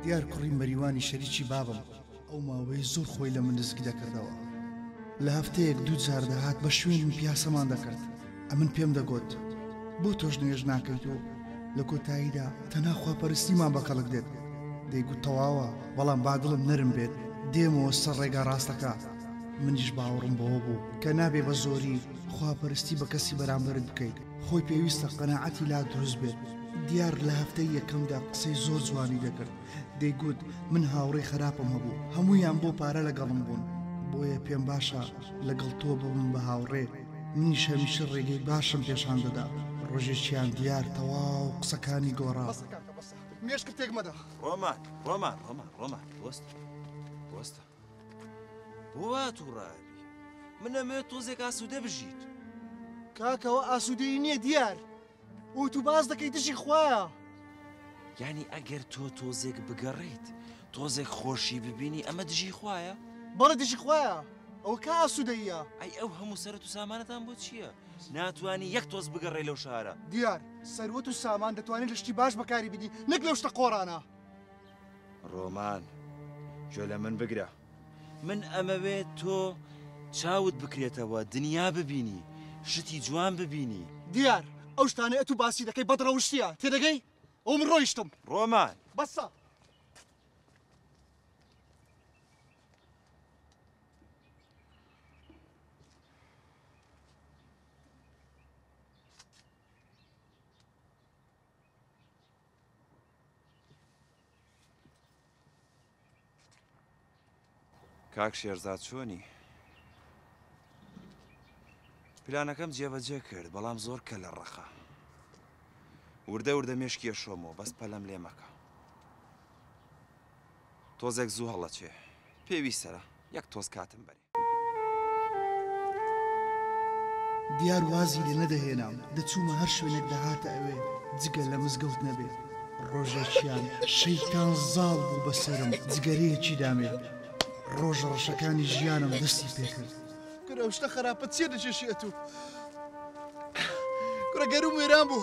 دیار کوڕی مەریوانی شەریکی بابم ئەو ماوەی زۆر خۆی لە من نزیک دەکردەوە لە هەفتەیەک دوو جار دەهات بە شوێنی پیاسەمان دەکرد ئەمن پێم دەگوت بۆ تۆش نوێژ ناکەیت و لە کۆتاییدا تەناخوا پەرستیمان بە کەڵک دێت دەیگوت تەواوە بەڵام بادڵم نەرم بێت دێمەوە سەر ڕێگا ڕاستەکە منیش باوەڕم بەوە بوو کە نابێ بە زۆری خواپەرستی بە کەسی بەرامبەرت بکەیت خۆی پێویستە قەناعەتی لا دروست بێت دیار لە هەفتەی یەکەمدا قسەی زۆر جوانی دەکرد دەیگوت من هاوڕێی خراپم هەبوو هەمویان بۆ پارە لەگەڵم بوون بۆیە پێم باشە لەگەڵ تۆ ببم بە هاوڕێ منیش هەمیشە ڕێگەی باشم پێشان دەدا ڕۆژێکیان دیار تەواو قسەکانی گۆڕا مێشکتێک مەدا ڕۆمان ڕۆمان ڕۆمان ڕۆمان وەست وەستە بۆوا توڕە ئەبی؟ من ئەمەوێت تۆزێک ئاسوودە بژیت. کاکە ئەوە ئاسوودەیی نییە دیار. ئوتو باز دەکەی دژی خوایە. یعنی ئەگەر تۆ تۆزێک بگەڕێیت تۆزێک خۆشی ببینی ئەمە دژی خوایە؟ بەڵێ دژی خوایە ئەوە کا ئاسوودەیە؟ ئەی ئەو هەموو سەرەت و سامانەتان بۆ چییە؟ ناتوانانی یەک تۆز بگەڕێ لەو شارە. دیار سەروەت و سامان دەتوانین لە شتی باش بەکاری بینی نەک لەو شتە قۆڕانە. ڕۆمان، گوێ لە من بگرە. من ئەمەوێ تۆ چاوت بکرێتەوە، دنیا ببینی، شتی جوان ببینی. دیار، ئەو شتانەی ئەتوو باسی دەکەی بەدڕەوشتییە، تێدەگەی؟ ئەوە من ڕۆیشتم. ڕۆمان! بەسە! کاک شێرزاد چۆنی؟ پلانەکەم جێبەجێ کرد بەڵام زۆر کە لە ڕەقە وردە وردە مێشکی ئەشۆمەوە بەس پەلەم لێ مەکە تۆزێک زوو هەڵەچێ پێویستە یەک تۆز کاتم بەرێ دیار وازی لێ نەدەهێنام، دەچوومە هەر شوێنێک دەهاتە ئەوێ، جگە لە مزگەوت نەبێ. ڕۆژێکیان شەیتان زاڵ بوو بە سەرم، جگەرەیەکی دامێ. ڕۆژە ڕەشەکانی ژیانم دەستی پێ کرد. کورە ئەو شتە خەراپە چییە دەکێشی ئەتوو؟ کورە گەرووم وێران بوو.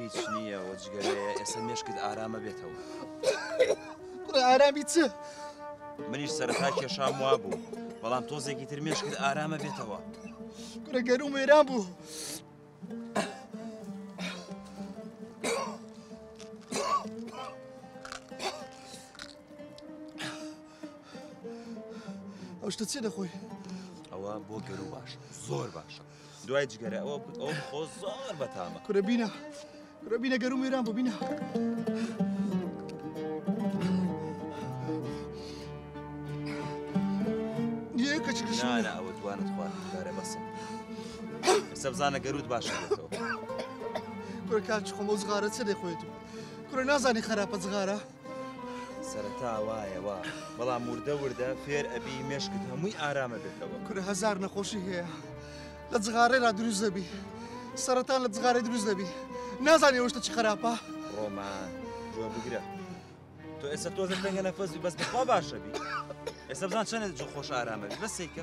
هیچ نییە و جگەرەیە، ئێسە مێشکت ئارام ئەبێتەوە. کوڕە ئارامی چ؟ منیش سەرەتا کێشام وا بوو بەڵام تۆزێکی تر مێش کرد ئارامە بێتەوە کوڕە گەروم وێران بوو. ئەوشتە چێ دەخۆی ئەوە بۆ گەرو باش زۆر باشە. دوای جگەرە ئەوە ئەو خۆ زۆر بەتامە کورە بینە کورە بینە گەروم وێران بۆ بینە. نانە ئەوە دوانت خوارە بەسە سەبزانە گەروت باشە کورە کاچ خۆمە زغارە چ دەخۆێت و کورە نازانی خراپە زغارە سەرەتا وایە وا بەڵام وردە وردە فێر ئەبی مێشکت هەمووی ئارامە بێتەوە کورە هزار نەخۆشی هەیە لە جغارێ لا دروست دەبی سەرەتان لە جغارێ دروست دەبی نازانێ وەشتە چ خراپە ڕۆمان جۆ بگرە تۆ ئێستا تۆزە تەنگە نەفەزی بەس بەخوا باشە بی ئێستا بزان چەنێت جۆ خۆش ئارامە بەس سیکە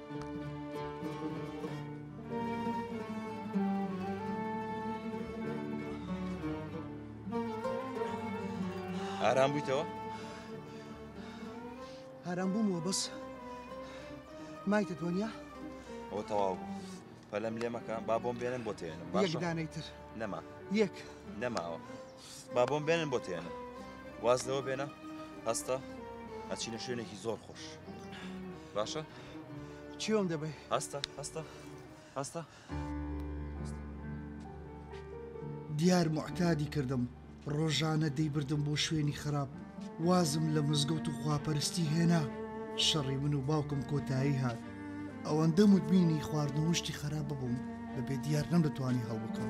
ئارام بوویتەوە؟ ئارام بوومەوە بەس مایتە دۆنیا؟ ئەوە تەواو بوو پەلم لێ مەکە با بۆم بێنن بۆ تێنم باشدانەی تر نەما یەک نەماوە با بۆم بێنن بۆ تێنە واز لەوە بێنە هەستە ئەچینە شوێنێکی زۆر خۆش باشە چیۆم دەبێ هەستە هەستە هەستە دیار معتادی کردم ڕۆژانە دەیبردم بۆ شوێنی خراپ وازم لە مزگەوت و خواپەرستی هێنا شەڕی من و باوکم کۆتایی هات ئەوەندە مدمینی خواردن وشتی خراپ ببووم بە بێ دیار نەم دەتوانی هەڵبکەم.